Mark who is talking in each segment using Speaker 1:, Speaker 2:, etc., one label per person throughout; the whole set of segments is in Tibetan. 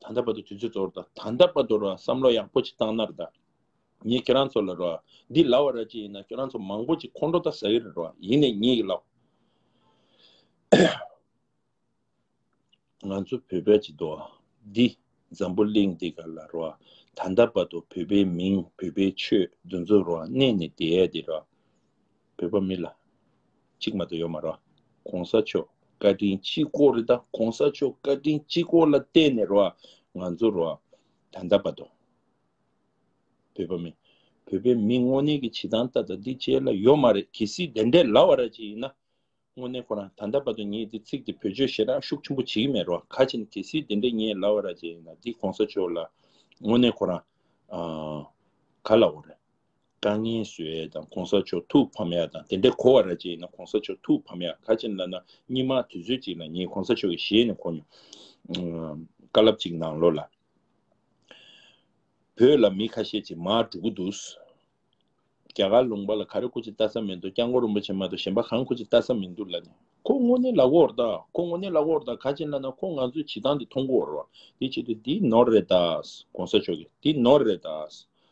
Speaker 1: ད་ལྟ་བར་དུ་དུས་ཚོད་འདོར་ད་ད་ལྟ་བར་དུ་རོ་བསམ་བློ་ཡག་པོ་ཅིག་བཏང་ན་རེ་ད། ངས་ཁྱེད་རང་ཚོ་ལ་རོ། འདི་ལ་བ་ར་ཅིག་ཡིན་ན་ཁྱོད་རང་ཚོ་མང་པོ་ཅིག་ཁོང་ཁྲོ་ད་ཟ་གི་རེད་རོ་ཡིན་ནས་ཉིད་ཡིག་ལོ། ང་ཚོ་བོད་པའི་སྤྱི་ཏོ། འདི། འཛམ་བུ་གླིང་འདི་ག་ལ་རོ། ད་ལྟ་བར་དུ་བོད་པའི་མིང་བོད་པའི་ཆོས་འདུ་འཛོ་རོ་གནས་ནས་དེའི་དེ་རོ། བོད་པ་མི་ལ། གཅིག་མ་ད་ཡོད་མ་རོག་གོང་ས་མཆོག་བཀའ་དྲིན་སྤྱི་སྐོར་རེད་ད་གོང་ས་མཆོག་བཀའ་དྲིན་སྤྱི་སྐོར་ལ་བལྟས་ནས་རོག་ང་ཚོ་རོག་ད་འདའ་བ་དང། བོད་པ་མི་བོད་པའི་མི་དངོས་གནས་ཀྱི་བྱེད་སྟངས་ད་ད་འདི་བྱས་ལ་ཡོད་མ་རེད་གལ་སྲིད་དེ་འདྲས་ལ་བ་ར་ཅིག་ཡིན་ན་དངོས་གནས་ཁོ་རང་ད་འདའ་བ་དང་ངས་འདི་ཚིག་འདི་བོད་ཆོས་ཞེ་དྲག་ཤུགས་ཆེན་པོ་བྱེད་ཀྱི་མེད་རོག་ཁ་ཆེ་ནི་གལ་སྲིད་དེ་འདྲས་ངས་ལ་བ་ར་ཅིག་ཡིན་ན་འདི་གོང་ས་མཆོག་ལ་དངོས་གནས་ཁོ་རང། ག་ལ་འོ་རེད། དཀའ་ངལ་བཟོས་ཡས་དང་གོང་ས་མཆོག་ཐུགས་ཕམ་ཡས་དང་དེ་འདྲས་གོ་བ་ར་བྱས་ཡིན་ན་གོང་ས་མཆོག་ཐུགས་ཕམ་ཡས་ག་ཅིན་ལ་ན་སྙིང་མ་དུས་ཚོད་ཅིག་ལ་ངས་གོང་ས་མཆོག་གི་ཞལ་ནས་གོ་མྱོང། བཀའ་ལབ་ཅིག་གནང་ལོ་ལ། བོད་ལ་མི་ཁ་ཤས་ཅིག་མ་འགྲོ་གི་འདུག། རྒྱ་གར་ལུང་པ་ལ་ག་རེ་ཁུ་ཅིག་བལྟ་ས་མི་འདུག་སྐྱག་མགོ་རིན་པོ་ཆེ་མ་གཏོགས་གཞན་པ་གང་ཁུ་ཅིག་བལྟ་ས་མི་འདུག་ལ་ནས། ཁོ་དངོས་གནས་ལག་འོག་དང་ཁོ་དངོས་གནས་ལག་འོག་དང་ག་ཅིན་ལ་ན་ཁོ་ང་ཚོའི་བྱེད་སྟངས་འདི་མཐོང་གི་འོར་བ། དེའི་ཆེད་དུ་འདི་ནོར་རེད་དཱ། གོང་ས་མཆོག་གིས་འདི་ནོར་རེད་དཱ།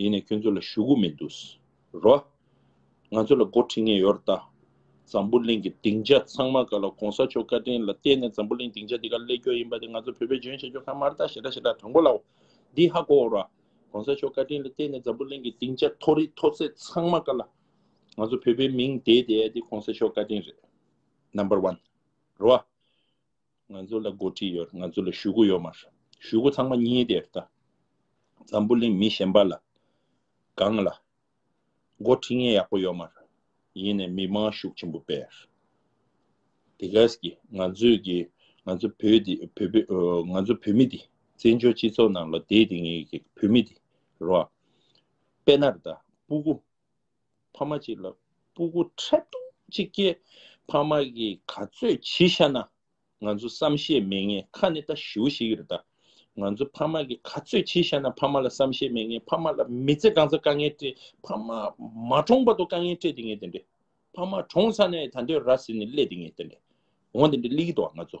Speaker 1: ཡིན་ནས་ཁྱོད་ཚོ་ལ་ཞུ་གུ་མི་འདུག་རོ། ང་ཚོ་ལ་འགོ་ཁྲིད་ངེས་ཡོད་ད། འཛམ་བུ་གླིང་གི་སྡིངས་ཆ་ཚང་མ་ག་ལ་གོང་ས་མཆོག་བཀའ་དྲིན་ལ་བརྟེན་ནས་འཛམ་བུ་གླིང་སྡིངས་ཆ་འདི་ག་སླེབས་རྒྱུ་ཡིན་པ་དེ་ང་ཚོ་བོད་པའི་ལྗོན་ཤིང་ཆོ་ག་མར་དག་ཞེ་དྲག་ཞེ་དྲག་དྲང་པོ་ལའོ། འདི་ཧ་གོ་འོར་བ། གོང་ས་མཆོག་བཀའ་དྲིན་ལ་བརྟེན་ནས་འཛམ་བུ་གླིང་གི་སྡིངས་ཆ་མཐོ་རིས་མཐོ་ཚད་ཚང་མ་ག་ལ། ང་ཚོ་བོད་པའི་མིང་དེ་དེ་དེ་གོང་ས་མཆོག་བཀའ་དྲིན་རེད། Number One། རོ། ང་ཚོ་ལ་འགོ་ཁྲིད་ཡོད་ང་ཚོ་ལ་ཞུ་སྒོ་ཡོད་མ་རེད། ཞུ་སྒོ་ཚང་མ་གཉིས་དེ་རེད་ད། འཛམ་བུ་གླིང་མི་གཞན་པ་ལ། གང་ལ། འགོ་ཁྲིད་མཁན་ཡག་པོ་ཡོད་མ་རེད། ཡིན་ནས་མི་དམངས་ཤུགས་ཆེན་པོ་སྤེལ། དེ་ག་ཟེ་གི་ང་ཚོས་གི་ང་ཚོ་བོད་དེ་བོད་པའི་ང་ཚོ་བོད་མི་དེ་བཙན་བྱོལ་སྤྱི་ཚོགས་ནང་ལ་དེ་དེ་ངེས་གི་བོད་མི་དེ་རོ། དཔེ་ན་རེད་ད་སྤུ་གུ་ཕ་མ་གཅིག་ལ་སྤུ་གུ་ཁྲག་འཐུང་གཅིག་སྐྱེས། ཕ་མ་གིས་ག་ཚོད་བྱིས་ཤ་ན། ང་ཚོ་བསམ་ཤེས་མེད་ངེས་ཁ་ནི་ད་ཞུ་ཞིག་རེད་ད། ང་ཚོ་ཕ་མ་གིས་ག་ཚོད་བྱིས་ཤ་ན་ཕ་མ་ལ་བསམ་ཤེས་མེད་ངེས་ཕ་མ་ལ་མི་ཚེ་འགྲངས་ཚ་དཀའ་ངལ་སྤྲད་ཕ་མ་མ་གྲོངས་བར་དུ་དཀའ་ངལ་སྤྲད་དེ་ངེས་དེ་འདྲས། ཕ་མ་གྲོངས་ཚ་ནས་ད་འདོད་ར་ཟེར་ནས་སླེད་དེ་ངེས་དེ་འདྲས། འོང་དེ་འདྲས་སླེད་གི་འདུག་ང་ཚོ།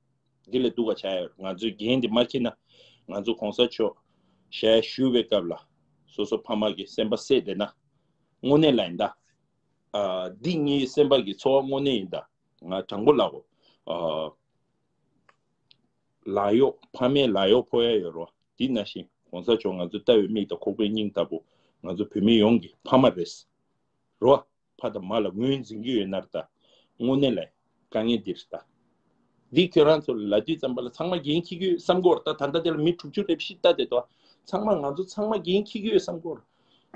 Speaker 1: འདི་ལས་འདུག་བ་བྱ་ཡ་རོ་ང་ཚོས་འགན་དེ་མ་ཁྱེར་ན་ང་ཚོ་གོང་ས་མཆོག་ཞལ་བཞུ་བའི་སྐབས་ལ་སོ་སོ་ཕ་མ་གི་སེམས་པ་བསྲེས་བསྡད་ན་དངོས་གནས་ལ་ཡིན་ད། འདི་གཉིས་སེམས་པ་གི་འཚོ་བ་དངོས་གནས་ཡིན་ད་ང་དྲང་པོ་ལབ་བོ། ལག་གཡོག་ཕ་མའི་ལག་གཡོག་ཕོག་ཡ་ཡོད་རོ་འདི་ན་བཞིན་གོང་ས་མཆོག་ང་ཚོ་ལྟ་བའི་མིག་དང་ཁོག་པའི་སྙིང་ལྟ་བུ་ང་ཚོ་བོད་མི་ཡོངས་གི་ཕ་མ་རེད་རོ། ཕ་དང་མ་ལ་ངོས་འཛིན་གྱི་ཡོད་ནར་ད་དངོས་གནས་ལ་དཀའ་ངལ་འདི་རེད་ད། འདི་ཁྱོད་རང་ཚོ་ལ་ལད་ཟློས་ཙམ་པ་ལ་ཚང་མ་འགན་ཁྱི་གྱི་ཡོད་བསམ་གོར་ད་ད་ལྟ་འདི་ལ་མི་དྲུག་ཅུ་རེ་བཞི་ལྟ་དེ་ད་ཚང་མ་ང་ཚོ་ཚང་མ་འགན་ཁྱི་གྱི་ཡོད་བསམ་གོར།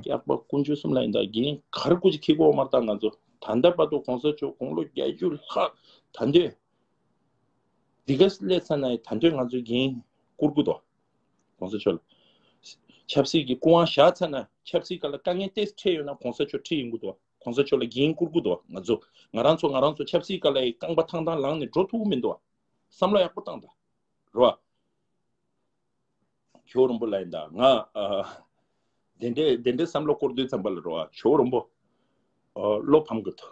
Speaker 1: སྐྱག་པ་ཀུན་སྤྱོད་གསུམ་ལ་ཡིན་ད་འགན་གར་ཀུ་ཅི་ཁྱི་གོ་མར་ད་ང་ཚོ་ད་ལྟ་དཔའ་ཐོ་གོང་ས་མཆོག་དགུང་ལོ་བརྒྱད་ཅུ་ལྷག་ད་འདོད། འདི་ག་ལས་ཚ་ན་ཡི་ད་འདོད་ང་ཚོ་འགན་ཀུར་ཀུ་ད། གོང་ས་མཆོག་ལ། ཆབ་སྲིད་ཀྱི་སྐུ་དབང་བཞག་ཚར་ན་ཆབ་སྲིད་ག་ལ་དཀའ་ངལ་ཏེ་འཕྲད་ཡོད་ན་གོང་ས་མཆོག་ཁྲིད་ཡིན་གུ་འདུག་གོང་ས་མཆོག་ལ་འགན་བསྐུར་གུ་འདུག་ང་ཚོ་ང་རང་ཚོ་ང་རང་ཚོ་ཆབ་སྲིད་ག་ལའི་རྐང་པ་ཐང་ཐང་ལངས་ནས་འགྲོ་ཐུབ་གུ་མི་འདུག་བསམ་བློ་ཡག་པོ་བཏང་དང་རོ། ཇོ་རོན་པོ་ལ་ཡིན་དང་ང། དེ་འདྲའི་དེ་འདྲའི་བསམ་བློ་བསྐོར་འདོད་ཙམ་པ་ལ་རོ། ཇོ་རོན་པོ། བློ་ཕམ་གི་འདུག།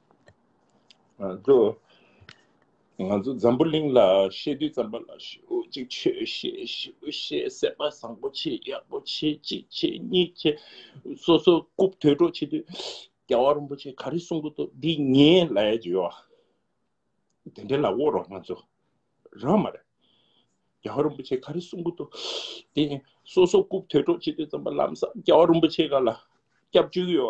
Speaker 1: ང་ཚོ་འཛམ་བུ་གླིང་ལ་ཤེས་དུས་ཙམ་པ་ལ་ཤེས་འོ་ཅིག་ཆོས་ཤེས་ཞེའུ་ཤེས་སེམས་པ་བཟང་པོ་ཆེ་ཡག་པོ་ཆེ་གཅིག་ཆེ་གཉིས་ཆེ་སོ་སོ་རྐུབ་དོད་སྒྲོག་བྱེད་དུས་རྒྱལ་བ་རིན་པོ་ཆེ་ག་རེ་གསུང་གི་འདུག་འདི་ངའི་ལས་ཀྱི་ཡོ་དེ་འདྲའི་ལ་དབོར་རོགས་ང་ཚོ་རང་མ་རེད་རྒྱལ་བ་རིན་པོ་ཆེ་ག་རེ་གསུང་གི་འདུག་དེ་སོ་སོ་རྐུབ་དོད་སྒྲོག་བྱེད་དུས་ཙམ་པ་ལམ་སང་རྒྱལ་བ་རིན་པོ་ཆེ་ག་ལ་སྐྱབས་བཅོལ་གི་ཡོ་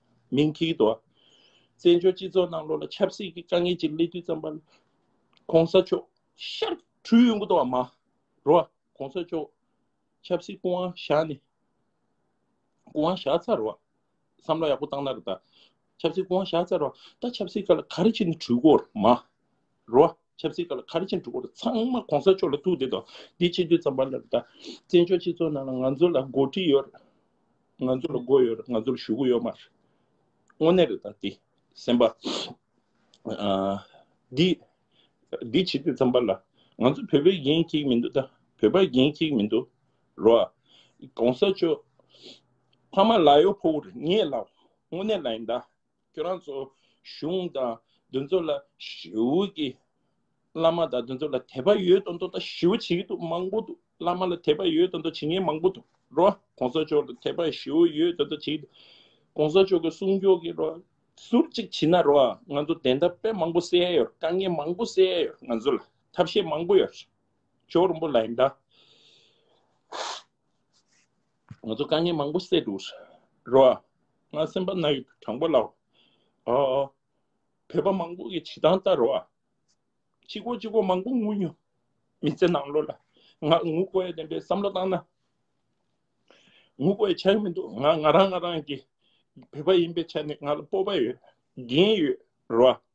Speaker 1: མིང་ཐིག་ཏུ། བཙན་བྱོལ་སྤྱི་ཚོགས་ནང་ལོ་ལ་ཆབ་སྲིད་ཀྱི་དཀའ་ངལ་གྱི་གླེང་དུས་ཙམ་པ་ལ། གོང་ས་མཆོག་ཤར་གྲུའི་གཡུང་དྲུང་བ་མ། རོ། གོང་ས་མཆོག་ཆབ་སྲིད་སྐུ་དབང་བཞག་ནས། སྐུ་དབང་བཞག་ཚར་བ། བསམ་བློ་ཡག་པོ་བཏང་ན་རེ་ད། ཆབ་སྲིད་སྐུ་དབང་བཞག་ཚར་བ། ད་ཆབ་སྲིད་ཀ་ལ་ག་རེ་བྱེད་ནས་གྲོས་འགོར་མ། རོ། ཆབ་སྲིད་ཀ་ལ་ཁ་རི་ཅན་འཁྲུག་པོ་རུ་ཚང་མ་གོང་ས་མཆོག་ལ་ཐུག་དེ་དང་དེ་ཆེ་དུས་ཙམ་པ་ལ་ད་བཙན་བྱོལ་སྤྱི་ཚོགས་ནང་ང་ཚོ་ལ་འགོ་ཁྲིད་ཡོད་རེད་ང་ཚོ་ལ་འགོ་ཡོད་རེད་ང་ཚོ་ལ་ཞུ་གུ་ཡོད་མ་རེད་དངོས་གནས་རེད་ད་དེ་སེམས་པ་དེ་དེ་ཆེ་དུས་ཙམ་པ་ལ་ང་ཚོ་བོད་པའི་འགན་ཁྱི་མི་འདུག་ད་བོད་པ་འགན་ཁྱི་མི་འདུག་རོ་ཨ་གོང་ས་མཆོག་ཕ་མ་ལ་ཡོ་ཕོ་བོ་རེད་ངས་ལ་དངོས་གནས་ལ་ཡིན་ད་ཁྱོད་རང་ཚོ་གཞུང་དང་དོན་གཙོ་ལ་ཞེའུ་གི་བླ་མ་དང་དོན་གཙོ་ལ་དད་པ་ཡོད་དོན་དོ་ཞེའུ་བྱེད་ཀྱི་འདུག་མང་པོ་འདུག་བླ་མ་ལ་དད་པ་ཡོད་དོན་དོ་བྱེད་མཁན་མང་པོ་འདུག་རོ་གོང་ས་མཆོག་ལ་དད་པ་ཞེའུ་ཡོད་དོན་དོ་བྱེད་ཀྱི་འདུག་གོང་ས་མཆོག་གི་གསུང་མཆོག་གི་རོ་ཟུར་གཅིག་བྱེད་ན་རོ་ང་ཚོ་བདེན་མཐའ་དཔེ་མང་པོ་གསལ་ཡོད་རེད་དཀའ་ངལ་མང་པོ་གསལ་ཡོད་རེད་ང་ཚོ་ལ་ཐབས་ཤེས་མང་པོ་ཡོད་རེད་མཆོག་རིན་པོ་ལ་ཡིན་དཱ། ང་ཚོ་དཀའ་ངལ་མང་པོ་སེལ་འདུག་རོ། ང་སེམས་པ་ན་ཡོད་དྲང་པོ་ལགས། ཨོ། བོད་པ་མང་པོ་གི་བྱེད་སྟངས་ལྟར་རོ། ཅི་གོ་ཅི་གོ་མང་པོ་ངུ་མྱོང། མི་ཚེ་ནང་ལོ་ལ་ང་ངུ་དགོས་ཡ་བདེན་པའི་བསམ་བློ་བཏང་ན། ངུ་དགོས་ཡ་ཆགས་མི་འདུག་ང་ང་རང་ང་རང་གི་བོད་པ་ཡིན་པའི་ཆ་ནས་ང་ལ་སྤོབས་པ་ཡོད། འགན་ཡོད་རོ།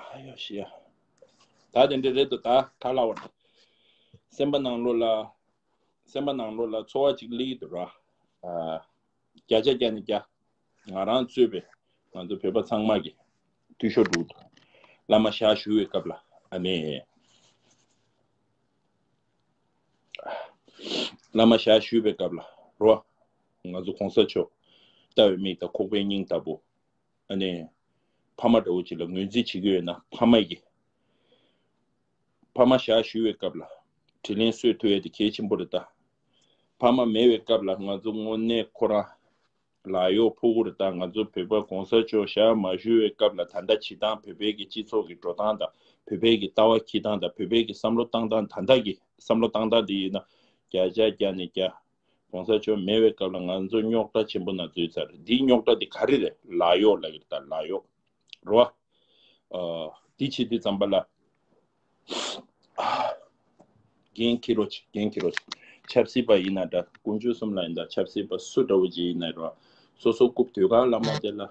Speaker 1: ཨ་ཡོ་ཤི་ཡ། ད་དེ་འདྲ་རེད་དོ་ད་ག་ལ་བ། སེམས་པ་ནང་ལོ་ལ། སེམས་པ་ནང་ལོ་ལ་འཚོ་བ་ཅིག་ལིག་དུ་ར། བརྒྱ་ཆ་བརྒྱ་ནས་བརྒྱ། ང་རང་གཙོས་པའི་ང་ཚོ་བོད་པ་ཚང་མ་གི་འཐུས་ཤོར་འདུག་དོ། བླ་མ་ཞག་ཞུ་བའི་སྐབས་ལ་ཨ་མེ། བླ་མ་ཞག་ཞུ་བའི་སྐབས་ལ་རོ། ང་ཚོ་གོང་ས་མཆོག། ལྟ་བའི་མིག་དང་ཁོག་པའི་སྙིང་ལྟ་བུ། ཨ་ནི། ཕ་མ་འདྲ་བོ་ཅིག་ལ་ངོས་འཛིན་བྱེད་ཀྱི་ཡོད་ན་ཕ་མ་ཡིས། ཕ་མ་ཞག་ཞུ་བའི་སྐབས་ལ་དྲིན་ལན་གསོས་ཐུབ་ཡ་དེ་གལ་ཆེན་པོ་རེད་ད། ཕ་མ་མེད་བའི་སྐབས་ལ་ང་ཚོ་དངོས་གནས་ཁོ་རང་ལ་གཡོག་ཕོག་གོ་རེད་ད་ང་ཚོ་བོད་པ་གོང་ས་མཆོག་ཞག་མ་ཞུ་བའི་སྐབས་ལ་ད་ལྟ་བྱེད་སྟངས་བོད་པའི་གི་སྤྱི་ཚོགས་གི་འགྲོ་སྟངས་དང་བོད་པའི་གི་ལྟ་བ་ཁྱི་སྟངས་དང་བོད་པའི་གི་བསམ་བློ་བཏང་སྟངས་ད་ལྟ་གི་བསམ་བློ་བཏང་སྟངས་དེ་ཡིན་ན་བརྒྱ་ཆ་བརྒྱ་ནས་བརྒྱ་གོང་ས་མཆོག་མེད་བའི་སྐབས་ལ་ང་ཚོ་རྙོག་དྲ་ཆེན་པོ་ན་འཛུལ་ཚར་རེད་འདིའི་རྙོག་དྲ་དེ་ག་རེ་རེད་ལ་ཡོག་ལ་ཡོད་ད་ལ་ཡོག་རོ་ཨ། དེ་ཕྱི་དེ་ཙམ་པ་ལ་རྒན་ཁྱི་རོ་ཆེ་རྒན་ཁྱི་རོ་ཆེ་ཆབ་སྲིད་པ་ཡིན་ན་འདྲ་དཀོན་མཆོག་གསུམ་ལ་ཡིན་ད་ཆབ་སྲིད་པ་སུ་འདྲ་བོ་ཅིག་ཡིན་ན་རོ་ཨ་སོ་སོ་རྐུབ་དུས་ག་ལ་མ་བརྡལ་ལ།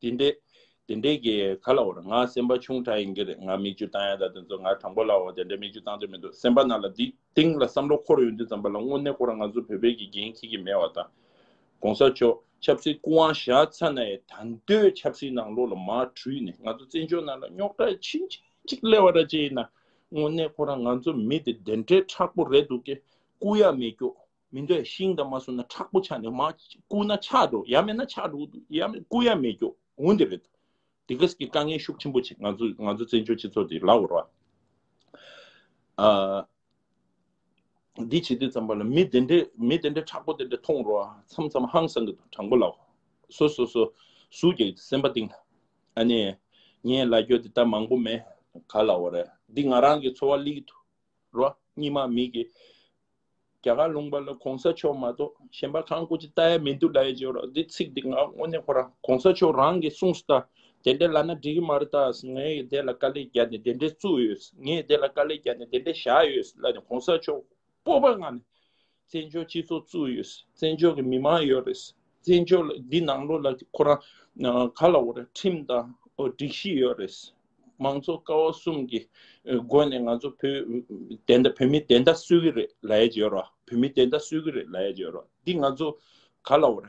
Speaker 1: དེ་འདྲས། དེ་འདྲས་ཀྱི་ག་ལ་བོར་ང་སེམས་པ་ཆུང་ཕྲ་ཡིན་གྱི་རེད་ང་མིག་ཆུ་བཏང་ཡ་ད་དེ་ཚོ་ང་དྲང་པོ་ལ་བོར་དེ་འདྲས་མིག་ཆུ་བཏང་འདོད་མི་འདུག་སེམས་པ་ན་ལ་འདི་སྟེང་ལ་བསམ་བློ་འཁོར་ཡོང་དུས་ཙམ་པ་ལ་དངོས་གནས་ཁོ་རང་ང་ཚོ་བོད་པའི་དགེ་རྒན་ཁྱེད་ཀྱི་མེད་བ་དང། གོང་ས་མཆོག་ཆབ་སྲིད་སྐུ་དབང་བཞག་ཚ་ནའི་ད་འདོད་ཆབ་སྲིད་ནང་ལོག་ལ་མ་དྲུས་ནས་ང་ཚོ་བཙན་བྱོལ་ནང་ལ་རྙོག་དྲ་ཕྱིན་ཅི་ཅིག་སླེ་བ་ར་བཅད་ཡིན་ན་དངོས་གནས་ཁོ་རང་ང་ཚོ་མི་དེ་དེ་འདྲས་ཁྲག་པོ་རེད་འདུག་གི་སྐུ་ཡ་མེད་སྐྱོ་མི་འདོད་ཤིང་དང་མ་སོ་ན་ཁྲག་པོ་ཆགས་ནས་མ་བསྐུ་ན་ཆགས་འགྲོ་ཡ་མེད་ན་ཆགས་འགྲོ་ཡ་མེད་བསྐུ་ཡ་མེད་རྒྱོ་འུ་འདི་རེད་དེ་གས་ཀྱི་དཀའ་ངལ་ཤུགས་ཆེན་པོ་ཆེ་ང་ཚོ་ང་ཚོ་བཙན་བྱོལ་སྤྱི་ཚོགས་འདི་ལགས་རོ། ཨ། འདི་བྱེད་དུས་ཙམ་པ་ལ་མི་དེ་འདྲས་མི་དེ་འདྲས་ཁྲག་པོ་དེ་འདྲས་མཐོང་རོ་མཚམས་མཚམས་ཧང་སང་གི་འདུག་དྲང་པོ་ལགས་སོ་སོ་སོ་སུ་གས་ཀྱི་སེམས་པ་གཏིང་ལ་ཨ་ནས་ངས་ལ་རྒྱོ་དེ་ལྟར་མང་པོ་མེད་ག་ལགས་རེད་འདི་ང་རང་གི་འཚོ་བ་ལིས་འདུག་རོ་གཉིས་མ་མི་གི། རྒྱ་གར་ལུང་པ་ལ་གོང་ས་མཆོག་མ་གཏོགས་གཞན་པ་གང་སྐུ་ཅི་ལྟ་ཡ་མི་འདུག་ལ་ཡེ་འཇོག་རོགས་འདི་ཚིག་འདི་ང་དངོས་གནས་ཁོ་རང་གོང་ས་མཆོག་རང་གི་གསུངས་སུ་ལྟ་དེ་འདྲའི་ལ་ན་འགྲིག་གི་མ་རེད་ལྟ་ངས་དེ་ལ་དཀའ་ལས་རྒྱག་ནས་དེ་འདྲའི་བཙུགས་ཡོད་ངས་དེ་ལ་དཀའ་ལས་རྒྱག་ནས་དེ་འདྲའི་བཞག་ཡོད་ལ་ནས་གོང་ས་མཆོག་སྤོབས་པ་མངའ་ནས་བཙན་བྱོལ་སྤྱི་ཚོགས་བཙུགས་ཡོད་བཙན་བྱོལ་གྱི་མི་མང་ཡོད་རེད་བཙན་བྱོལ་འདི་ནང་ལོགས་ལ་ཁོ་རང་ག་ལ་འོ་ར་ཁྲིམས་དང་འོ་སྒྲིག་གཞི་ཡོད་རེད། མང་ཚོགས་ཀ་བ་གསུམ་གྱི་སྒོ་ནས་ང་ཚོ་བོད་བདེན་མཐའ་བོད་མི་བདེན་མཐའ་གསོད་ཀྱི་རེད་ལ་ཡ་བྱེད་རོགས་བོད་མི་བདེན་མཐའ་གསོད་ཀྱི་རེད་ལ་ཡ་བྱེད་རོགས་འདི་ང་ཚོ་ག་ལ་འོ་ར།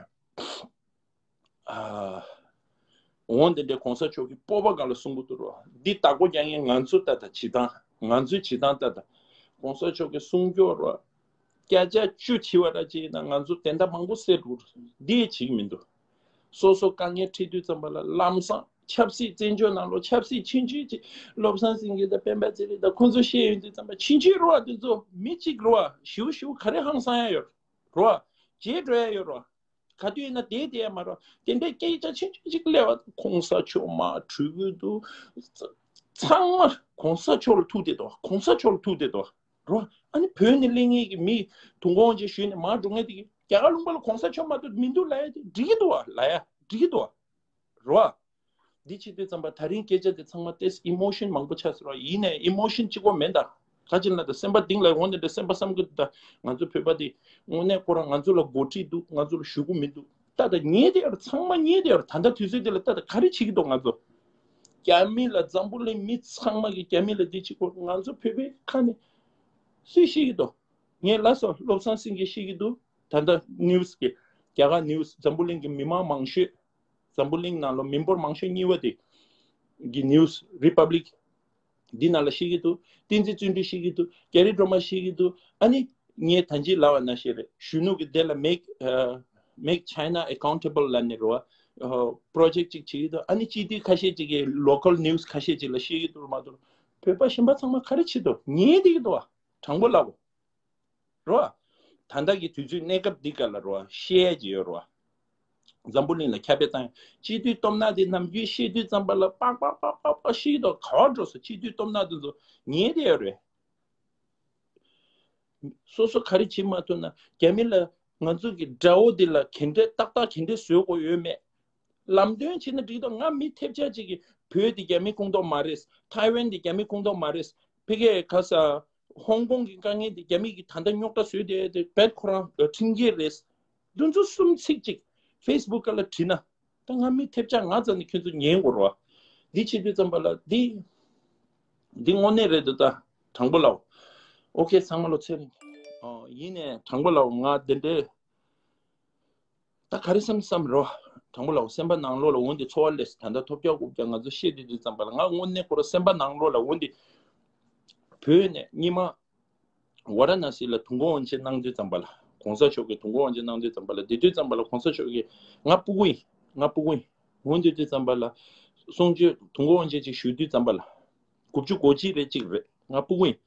Speaker 1: འོང་དེ་འདྲའི་གོང་ས་མཆོག་གི་སྤོབས་པ་ག་ལ་གསུང་གི་འདུག་རོགས་འདི་དག་པོ་རྒྱ་ངན་ང་ཚོ་ལྟ་དང་བྱེད་སྟངས་ང་ཚོའི་བྱེད་སྟངས་ལྟ་དང་གོང་ས་མཆོག་གི་གསུང་སྐྱོ་རོགས། སྐད་ཆ་བཅུ་དྲིས་བ་ར་ཅི་ཡིན་ན་ང་ཚོ་དེ་འདྲ་མང་པོ་སེ་འགྲོ་འདི་བྱེད་ཀྱི་མི་འདུག་སོ་སོ་དཀའ་ངལ་འཕྲད་དུས་ཙམ་པ་ལ་ལམ་བཟང་ཆབ་སྲིད་བཙན་བྱོལ་ནང་ལོ་ཆབ་སྲིད་ཕྱིན་ཆོད་ཅིག་བློ་བཟང་སེང་གེ་དང་སྤེན་པ་ཚེ་རིང་དང་ཁོང་ཚོ་ཤེས་ཡོད་དུས་ཙམ་པ་ཕྱིན་ཆོད་རུ་བ་དེ་ཚོ་མི་གཅིག་རུ་བ་ཞིའུ་ཞིའུ་ག་རེ་ཧང་སང་ཡ་ཡོད་རུ་བ་རྗེས་འགྲོ་ཡ་ཡོད་རུ་བ་ག་དུས་ཡིན་ན་དེའི་དེ་ཡ་མ་རུ་བ་དེ་འདྲའི་སྐད་ཆ་ཕྱིན་ཆོད་ཅིག་གླེང་བ་དང་གོང་ས་མཆོག་མ་གྲོས་གུས་འདུག་ཚང་མ་གོང་ས་མཆོག་ལ་ཐུག་བསྡད་དོ་གོང་ས་མཆོག་ལ་ཐུག་བསྡད་དོ། རོ། ཨ་ནི་བོད་ནི་གླིང་ངེད་ཀྱི་མི། དུང་གོང་ཅེས་ཞུས་ནས་མར་འགྲོ་ངེས་ཏེ། རྒྱ་གར་ལུང་པ་ལ་གོང་ས་མཆོག་མ་འདུག་མི་འདུག་ལ་ཡ་དེ་འགྲིག་གི་འདུག་ལ་ཡ་འགྲིག་གི་འདུག། རོ། འདི་ཕྱི་དུས་ཙམ་པར་ད་རིང་སྐད་ཆ་དེ་ཚང་མ་ཏེས Emotion མང་པོ་ཆགས་ཟེར་བ་ཡིན་ནས Emotion གཅིག་པོ་མེད་ད། ག་ཅིག་ན་ད་སེམས་པ་གདིང་ལ་འོང་ནས་ད་སེམས་པ་བསམ་གི་འདུག་ད། ང་ཚོ་བོད་པ་དེ་དངོས་གནས་ཁོ་རང་ང་ཚོ་ལ་འགོ་ཁྲིད་འདུག་ང་ཚོ་ལ་ཞུ་གི་མི་འདུག་ད། ད་ངེས་ཏེ་ཡོད་རེད་ཚང་མ་ངེས་ཏེ་ཡོད་རེད་ད་ད་དུས་ཚོད་དེ་ལ་ད་ད་ག་རེ་བྱེད་ཀྱི་འདུག་ང་ཚོ། རྒྱ་མི་ལ་འཛམ་བུ་གླིང་མི་ཚང་མ་གི་རྒྱ་མི་ལ་འདི་གཅིག་པོ་ང་ཚོ་བོད་པའི་ཁ་ནས་སུས་ཤེས་ཀྱི་འདུག་ངའི་ལ་སོ་བློ་བཟང་སེང་གེ་ཤེས་ཀྱི་འདུག་ད་ལྟ news གི་རྒྱ་གར news འཛམ་བུ་གླིང་གི་མི་མང་མང་ཤོས་འཛམ་བུ་གླིང་ནང་ལོ་མི་འབོར་མང་ཤོས་གཉིས་པ་དེ་གི news republic འདི་ན་ལ་ཤེས་ཀྱི་འདུག་བསྟན་འཛིན་བརྩོན་འགྲུས་ཤེས་ཀྱི་འདུག་རྒྱ་རི་སྒྲོལ་མ་ཤེས་ཀྱི་འདུག་ཨ་ནི། ངའི་ད་འཇིགས་ལ་བ་ན་ཤེས་རེད་གཞོན་ནུ་གི་དེ་ལ make China accountable ལ་ནི་རུ་བ project ཅིག་བྱེད་ཀྱི་འདུག་ཨ་ནི་སྤྱི་ཐུས་ཁ་ཤས་ཅིག་གི local news ཁ་ཤས་ཅིག་ལ་ཤེས་ཀྱི་འདུག་མ་གཏོགས་བོད་པ་གཞན་པ་ཚང་མ་ག་རེ་བྱེད་དུ་ངའི་དེ་ཀྱི་འདུག་བ་དྲང་པོ་ལབ་བོ། རོ། དང་བདག་གི་དུས་ཚོད་གནས་སྐབས་འདི་ག་ལ་རོ། ཤེས་ཡས་ཀྱི་ཡོད་རོ། འཛམ་བུ་གླིང་ལ་ཁྱབ་པའི་དང་སྤྱི་དུས་སྟོབས་ནག་དེ་ནམ་རྒྱུན་ཤེས་དུས་ཙམ་པ་ལ་པག་པག་པག་པག་པག་ཤེས་དོག་ག་བ་འགྲོ་སོ་སྤྱི་དུས་སྟོབས་ནག་དུ་འཛོ་ཉེས་དེ་ཡོད་རེད། སོ་སོ་ག་རེ་བྱེད་མ་ཐུབ་ན་རྒྱ་མི་ལ་ང་ཚོ་གི་དགྲ་བོ་དེ་ལ་གན་འདྲེ་ཏག་ཏག་གན་འདྲེ་བཟོས་དགོས་ཡོད་མེད། ལམ་སྟོན་བྱེད་ན་འགྲིག་དོག་ང་མི་ཐེབས་ཆག་ཅིག་གི་བོད་དེ་རྒྱ་མི་ཁུངས་དོག་མ་རེད། ཐའི་ཝན་དེ་རྒྱ་མི་ཁུངས་དོག་མ་རེད། ཕི་ཀེ་ག་ས་ཧོང་ཀོང་གི་དཀའ་ངལ་འདི་རྒྱ་མིས་ད་ལྟ་རྙོག་དྲ་བཟོས་ཏེ་འདི་བལ་ཁོ་རང་ཁྲིམས་འགལ་རེད། འདི་ཚོ་གསུམ་ཚིག་གཅིག Facebook ལ་བྲིས་ན་ད་ང་མི་ཐེབས་ཆ་ང་ཙམ་ནས་ཁྱོད་ཚོ་ཉན་དགོ་རོ། འདི་ཆེ་བསྟོད་ཙམ་པ་ལ་འདི་འདི་དངོ་གནས་རེད་འདི་ད་དྲང་པོ་ལའོ། ཨོ་ཁེ་ཚང་མ་ལོ་ཚད་རིང། ཡིན་ནས་དྲང་པོ་ལའོ་ང་འདི་འདྲའི། ད་ག་རེ་བསམ་བསམ་རོགས། དང་པོ་ལ་འོ་སེམས་པ་ནང་བློ་ལ་འོན་ཏེ་འཚོ་བ་ལས་སུ་ད་ལྟ་ཐོབ་རྒྱག་དགོས་རྒྱག་ང་ཚོ་ཤེས་དེ་དུས་ཙམ་པ་ལ་ང་དངོས་གནས་ཁོ་ར་སེམས་པ་ནང་བློ་ལ་འོན་ཏེ་བོད་ནས་གཉིས་མ་བ་ར་ན་སི་ལ་དུང་གོ་འོན་ཆེད་གནང་དུས་ཙམ་པ་ལ་གོང་ས་མཆོག་གི་དུང་གོ་འོན་ཆེད་གནང་དུས་ཙམ་པ་ལ་དེ་དུས་ཙམ་པ་ལ་གོང་ས་མཆོག་གི་ང་སྤུ་གུ་ཡིན་ང་སྤུ་གུ་ཡིན་འོན་ཏེ་དུས་ཙམ་པ་ལ་གསུང་ཆོས་དུང་གོ་འོན་ཆེད་ཅིག་ཞུས་དུས་ཙམ་པ་ལ། དགུ་བཅུ་གོ་གཅིག་རེད་གཅིག་རེད་ང་སྤུ་ཝིན།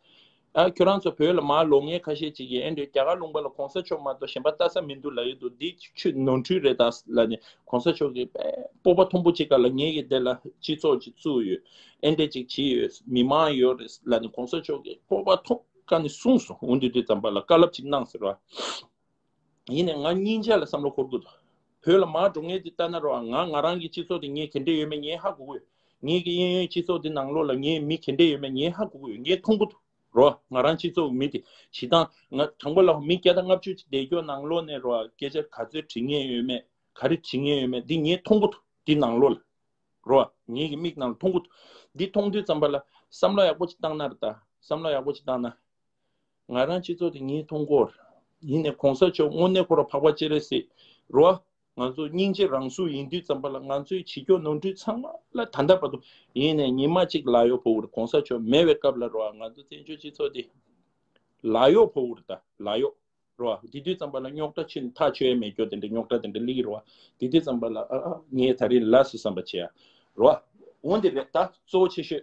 Speaker 1: ཨ་ཁྱོད་རང་ཚོ་བོད་ལ་མར་ལོ་ངས་ཁ་ཤས་གཅིག་ཡིན་ཨེ་འདོད་རྒྱ་གར་ལུང་པ་ལ་གོང་ས་མཆོག་མ་གཏོགས་གཞན་པ་ལྟ་ས་མི་འདུག་ལ་ཡོད་འདུག་འདི་ཆུ་ནོར་འཁྲུལ་རེད་ད་ལ་ནས་གོང་ས་མཆོག་གིས་སྤོབས་པ་ཐོང་པོ་གཅིག་ག་ལ་ངེས་ཀྱི་དེ་ལ་སྤྱི་ཚོགས་ཀྱི་གཙུག་ཡོད་ཨེ་འདྲས་གཅིག་གྱིས་ཡོད་མི་དམངས་ཡོད་རེད་ལ་ནས་གོང་ས་མཆོག་གིས་སྤོབས་པ་ཐོང་ག་ནས་གསུངས་སོང་འོན་འདུག་དེ་ཙམ་པ་ལ་དཀའ་ལབ་གཅིག་གནང་ཟེར་བ། ཡིན་ནས་ང་སྙིང་རྗེ་ལ་བསམ་བློ་འཁོར་དགོས་འདུག་བོད་ལ་མར་འགྲོ་ངེས་དེ་ལྟ་ན་རོགས་ང་ང་རང་གི་སྤྱི་ཚོགས་དེ་ངས་གལ་འགྲན་ཡོད་མེད་ངས་ཧ་གོ་གི་ཡོད་ངེད་ཀྱི་གཡས་གཡོན་སྤྱི་ཚོགས་དེ་ནང་ལོགས་ལ་ངས་མི་གལ་འགྲན་ཡོད་མེད་ངས་ཧ་གོ་གི་ཡོད་ངས་མཐོང་གི་འདུག་རོགས་ང་རང་སྤྱི་ཚོགས་མི་དེ་བྱེད་སྟངས་ང་དང་པོ་ལ་མི་བརྒྱ་དང་ལྔ་བཅུ་ཅིག་བསྡད་སྐྱོ་ནང་ལོགས་ནས་རོགས་སྐད་ཆ་ག་ཚོད་དྲི་ངེས་ཡོད་མེད་ག་རེ་དྲི་ངེས་ཡོད་མེད་འདི་ངས་མཐོང་གི་འདུག་འདི་ནང་ལོགས་ལ་རོགས་ངེད་ཀྱི་མིག་ནང་ལ་མཐོང་གི་འདུག་འདི་མཐོང་དུས་ཙམ་པ་ལ་བསམ་བློ་ཡག་པོ་ཅིག་བཏང་ན་རེ་ད་བསམ་བློ་ཡག་པོ་ཅིག་བཏང་ན། ང་རང་སྤྱི་ཚོགས་དེ་ཉིད་མཐོང་སྐོར། ཡིན་ནས་གོང་ས་མཆོག་དངོས་གནས་འཁོར་བ་འཕགས་པ་སྤྱན་རས་གཟིགས་རུ་བ། ང་ཚོ་སྙིང་རྗེ་རང་གཟུགས་ཡིན་དུས་ཙམ་པ་ལ་ང་ཚོའི་བྱིས་སྐྱོ་ནོར་འཁྲུལ་ཚང་མ་ལ་ད་ལྟ་བར་དུ་ཡིན་ནས་ཉིན་མ་གཅིག་ལག་གཡོག་ཕོ་བུར་གོང་ས་མཆོག་མེད་བའི་སྐབས་ལ་རུ་བ་ང་ཚོ་བཙན་བྱོལ་སྤྱི་ཚོགས་དེ་ལག་གཡོག་ཕོ་བུར་ད་ལག་གཡོག་རུ་བ་དེ་དུས་ཙམ་པ་ལ་རྙོག་དྲ་ཆུ་ཐག་ཆོད་ཡ་མེད་སྐྱོ་དེ་འདྲའི་རྙོག་དྲ་དེ་འདྲ་ལིག་རུ་བ་དེ་དུས་ཙམ་པ་ལ་ཨ་ཨ་ངས་ད་རིང་ལ་སུ་བསམ་པ་བྱེད་ཡ་རུ་བ་འོན་དེ་རེད་ད་གཙོ་བོ་ཆེ་ཤོས་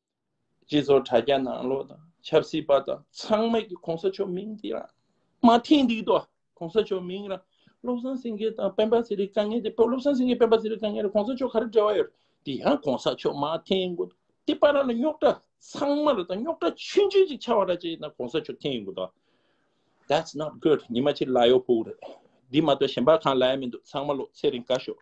Speaker 1: སྤྱི་ཚོགས་དྲ་རྒྱ་ནང་ལོག་དང་ཆབ་སྲིད་པ་དག་ཚང་མས་ཀྱི་གོང་ས་མཆོག་མིང་འདི་རང་མ་ཐིངས་འདུག་དོ་གོང་ས་མཆོག་མིང་རང་བློ་བཟང་སེང་གེ་དང་སྤེན་པ་ཚེ་རིང་དཀའ་ངལ་དེ་བློ་བཟང་སེང་གེ་སྤེན་པ་ཚེ་རིང་དཀའ་ངལ་རེད་གོང་ས་མཆོག་ག་རེ་འབྲེལ་བ་ཡོད་དེ་ཡང་གོང་ས་མཆོག་མ་ཐིངས་གོ་དེ་པ་ར་ལ་རྙོག་དྲ་ཚང་མ་ར་དང་རྙོག་དྲ་ཆུན་ཆུན་ཅིག་ཆགས་བ་ར་ཅིག་ཡིན་ན་གོང་ས་མཆོག་ཐིངས་གོ་དོ That's not good ཉི་མ་ཕྱིར་ལ་ཡོག་པོ་རེད་འདི་མ་གཏོགས་གཞན་པ་གང་ལ་ཡ་མི་འདུག་ཚང་མ་ལོག་ཚེ་རིང་དཀའ་ཤོག།